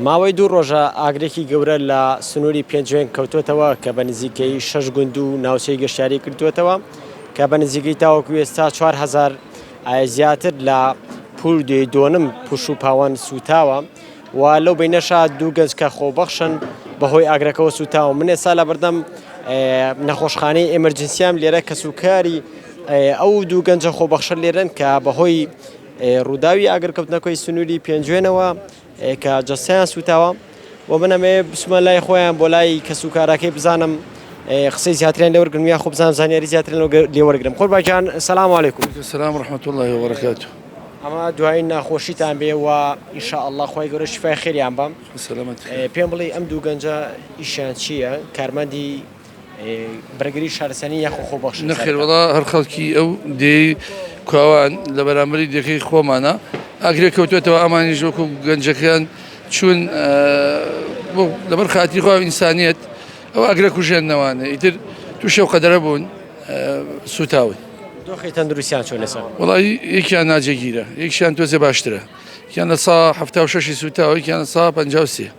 ماوەی دوو ڕۆژە ئاگرێکی گەورە لە سنووری پێنجوێن کەوتوتەوە کە بە نزیکەی شەش گوند و ناوچەی گەشتیاری کردوێتەوە کە بە نزیکەی تاوەکو ئێستا 4هزار زیاتر لە پول دوێی دۆنم پوش و پاوان سوتاوە و لەو بینەشا دوو گەنج کە خۆبەخشن بەهۆی ئاگرەکەەوە سوتاوە من ئێستا لە بەردەم نەخۆشخانەی ئێمەرجنسیام لێرە کەسوکاری ئەو دوو گەنجە خۆبەخشە لێرن کە بەهۆی ڕووداوی ئاگرکەوتنە کۆی سنووری پێنجوێنەوە کە جەستەیان سووتاوە و من ئەمەیە بچمە لای خۆیان بۆ لای کەس و کاراکەی بزانم قسەی زیاتریان لێ وەرگرم یا خۆ بزانم زانیاری زیاتریان لێ وەرگرم قوربان گیان سەلام علیکم سەلام و رەحمەت اللە و بەرەکاتو ئەمە دوایین ناخۆشیتان بێ و ان شاء اللە خوای گەورە شیفای خێریان بەم سەلامەت پێم بڵێ ئەم دوو گەنجە ئیشیان چییە کارمەندی بەرگری شارستانی یاخۆ خۆبەخشی سەرەتا. نەخێر وەڵا هەر خەڵکی ئەو دێی کواوان لە بەرامبەری دێکەی خۆمانا ئاگرێک کەوتۆتەوە ئەمانیش وەکو گەنجەکەیان چوون بۆ لەبەر خاتری خواو ئینسانیەت ئەو ئاگرە کوژێنەوانە ئیتر تووشی ئەو قەدەرە بوون سووتاون. دۆخی تەندروستیان چۆنە سەر؟ وەڵا یەکیان ناجێگیرە یەکشیان تۆزێ باشترە یەکیان لە سا حەفتا و شەشی سووتاوە یەکیان لە سا پەنجا و سێ.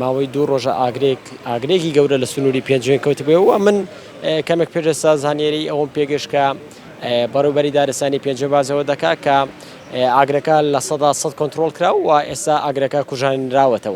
ماوەی دوو ڕۆژە ئاگرێک ئاگرێکی گەورە لە سنووری پێنجوێن کەوتبێ و من کەمێک پێشستا زانیێری ئەوم پێگەشت کە بەڕوبەری دارستانی پێنجوێن بازەوە دەکا کە ئاگرەکە لە سەدا سەد کۆنتترۆل کرا و ئێستا ئاگرەکە کوژانراوەتەوە.